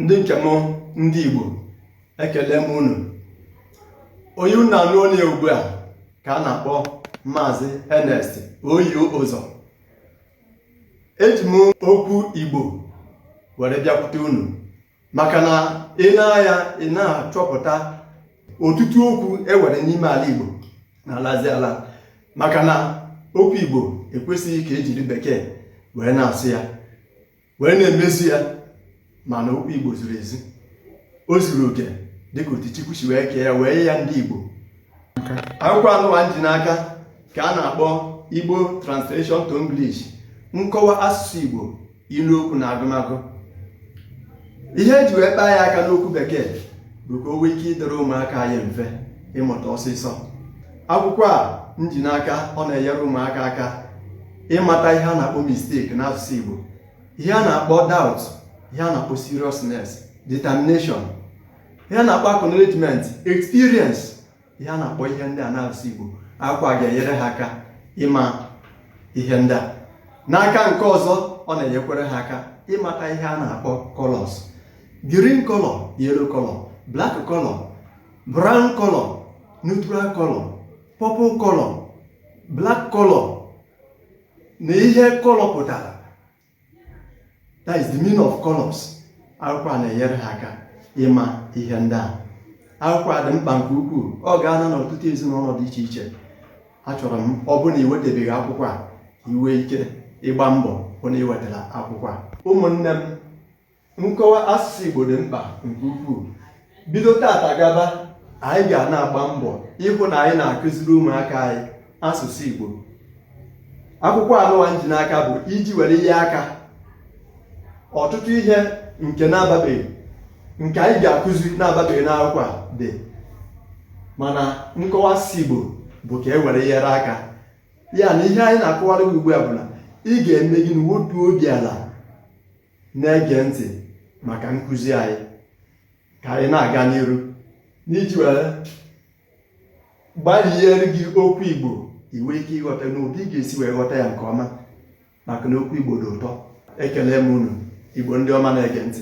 ndị nke m ndị Igbo ekelee m unu onye unu na-anụ olu ya ugbu a ka a na-akpọ Maazị Ernest Oyo Ụzọ eji m okwu Igbo were bịakwute unu maka na i nee anya ị na-achọpụta ọtụtụ okwu e nwere n'ime ala Igbo na-alazi ala maka na okwu Igbo ekwesịghị ka e jiri bekee wee na-asụ ya wee na-emezu ya mana okwu Igbo zuru ezu o zuru oke dịka otu Chukwu si wee kee ya wee nye ndị Igbo akwụkwọ anụwa m ji n'aka ka a na-akpọ igbo translation to english nkọwa asụsụ igbo ilu okwu na agụmagụ ihe e ji wee kpaa ya aka n'okwu bekee bụ ka o nwee ike ịdịrị ụmụaka anyị mfe ịmụta ọsịsọ akwụkwọ a m ji n'aka ọ na-enyere ụmụaka aka ịmata ihe a na-akpọ mistake n'asụsụ igbo ihe a na-akpọ doubt ihe a na-akpọ seriousness determination ihe a na-akpọ acknowledgement experience ihe a na-akpọ ihe ndị a n'asụsụ Igbo akwụkwọ a ga-enyere ha aka ịma ihe ndị a n'aka nke ọzọ ọ na-enyekwere ha aka ịmata ihe a na-akpọ colors green color yellow color black color brown color neutral color purple color black color na ihe color pụtara that is the meaning of colors akwụkwọ a na-enyere ha aka ịma ihe ndị ahụ akwụkwọ a dị mkpa nke ukwuu ọ gaala n'ọtụtụ ezinụlọ dị iche iche achọrọ m ọ bụrụ na ị wetabeghị akwụkwọ a i nwee ike ịgba mbọ hụ na ị wetara akwụkwọ a ụmụnne m nkọwa asụsụ Igbo dị mkpa nke ukwuu bido tata gaba anyị ga na-agba mbọ ịhụ na anyị na-akụziri ụmụaka anyị asụsụ Igbo akwụkwọ anụwa m ji n'aka bụ iji were nyere aka ọtụtụ ihe nke na-ababeghị nke anyị ga-akụzi na-ababeghị n'akwụkwọ a dị mana nkọwa asụsụ Igbo bụ ka e were nyere aka ya na ihe anyị na-akọwara gị ugbu a bụ na ị ga-eme gịnị wetuo obi ala na-ege ntị maka nkụzi anyị ka anyị na-aga n'iru n'iji were gbariere gị okwu Igbo i nwee ike ịghọta n'obi ị ga-esi wee ghọta ya nke ọma maka na okwu Igbo dị ụtọ ekelee m unu Igbo ndị ọma na-ege ntị